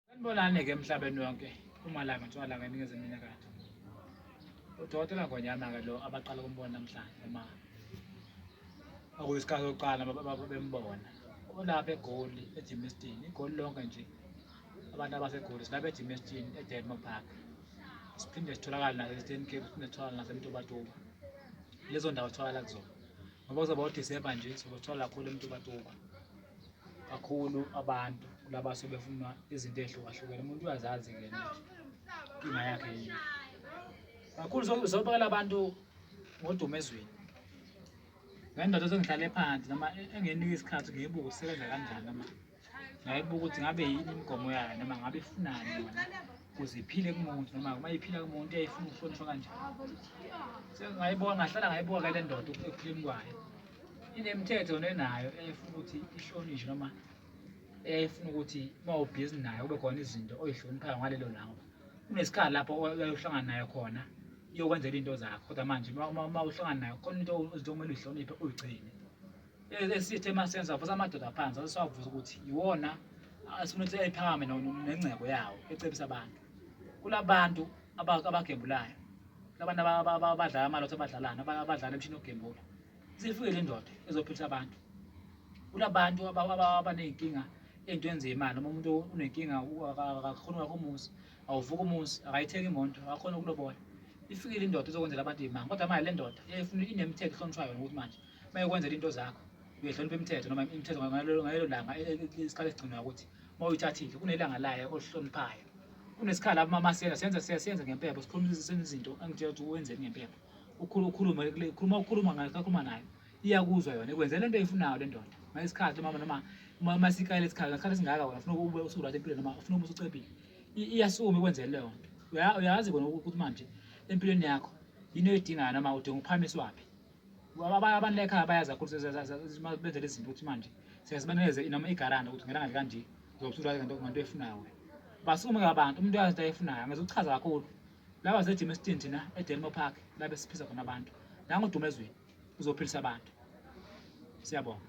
Sanibonani ke emhlabeni wonke umalanga ntshwalanga eningizimu inyakatho udokotela ngonyama ke lo abaqala ukumbona namhlanje uma okuyisikhathi sokuqala bembona olapha egoli ejimistini igoli lonke nje abantu abasegoli silapha ejimistini edelmo park siphinde sitholakale nase-eastern cape siphinde sitholakale nasemtubatuba lezo ndawo sitholakala kuzona ngoba kuzoba udisemba nje sobe sithola kakhulu emtubatuba kakhulu abantu laba sebefuna izinto ezihlukahlukene umuntu uyazazi ke inkinga yakhe yini kakhulu sobekela abantu ngodumo ezweni ngendoda sengihlale phansi noma e-, engenika isikhathi ngiyibuka usebenza kanjani noma ngayibuka ukuthi ngabe yini imigomo yayo noma ngabe ifunani yona ukuze iphile kumuntu noma uma iphila kumuntu uyayifuna ukuhlonishwa kanjani sengingayibona ngahlala ngayibuka ke le ndoda ekuphileni kwayo inemithetho nenayo efuna ukuthi ihlonishwe noma efuna ukuthi uma ubhizi nayo kube khona izinto oyihloniphayo ngalelo langa kunesikhathi lapho uyohlangana nayo khona iyokwenzela into zakho kodwa manje uma uhlangana nayo khona into izinto okumele uyihloniphe uyigcine esithe uma senza vusa amadoda phansi asisavuza ukuthi yiwona asifuna ukuthi ayiphakame nengcebo yawo ecebisa abantu kulabantu abagebulayo labantu abadlala amalotho abadlalana abadlala emshini ogembula isifike le ndoda ezophilisa abantu kulabantu abaney'nkinga ey'ntweni zeyimali noma umuntu unenkinga akakhoni wakho umuzi awuvuka umuzi akayithengi imoto akakhoni ukulobola ifikile indoda izokwenzela abantu iy'manga kodwa manje le ndoda inemithetho ehlonishwayo ngokuthi manje uma yokwenzela into zakho Uyohlonipha imithetho noma imithetho ngalelo langa e, e, e, isikhala esigcinwa ukuthi uma uyithathile kunelanga layo olihloniphayo. Kunesikhala amamasela senza siyasenza ngempepho sikhulumisise izinto engitshela ukuthi wenzeni ngempepho. Ukhulu ukhuluma khuluma ukhuluma ngayo kakhuluma nayo. Iyakuzwa yona ikwenzela into eyifunayo le ndoda. Ngesikhathi mama noma uma masikayile isikhala ngesikhathi singaka wena ufuna ube usukulala empilweni noma ufuna ube usucebile. Iyasukuma ikwenzela leyo nto. Uyazi kona ukuthi manje empilweni yakho yini oyidingayo noma udinga ukuphakamiswaphi. abantu ekhaya bayazi kakhulu benze lezi zinto ukuthi manje siyazibaneze noma igaranda ukuthi ngelanga likanje zokuthola ngento efunayo wena basukume abantu umuntu uyazi into ayifunayo angezokuchaza kakhulu laba zejima esitini thina edelmo park labe siphisa khona abantu nangodumo ezweni uzophelisa abantu siyabonga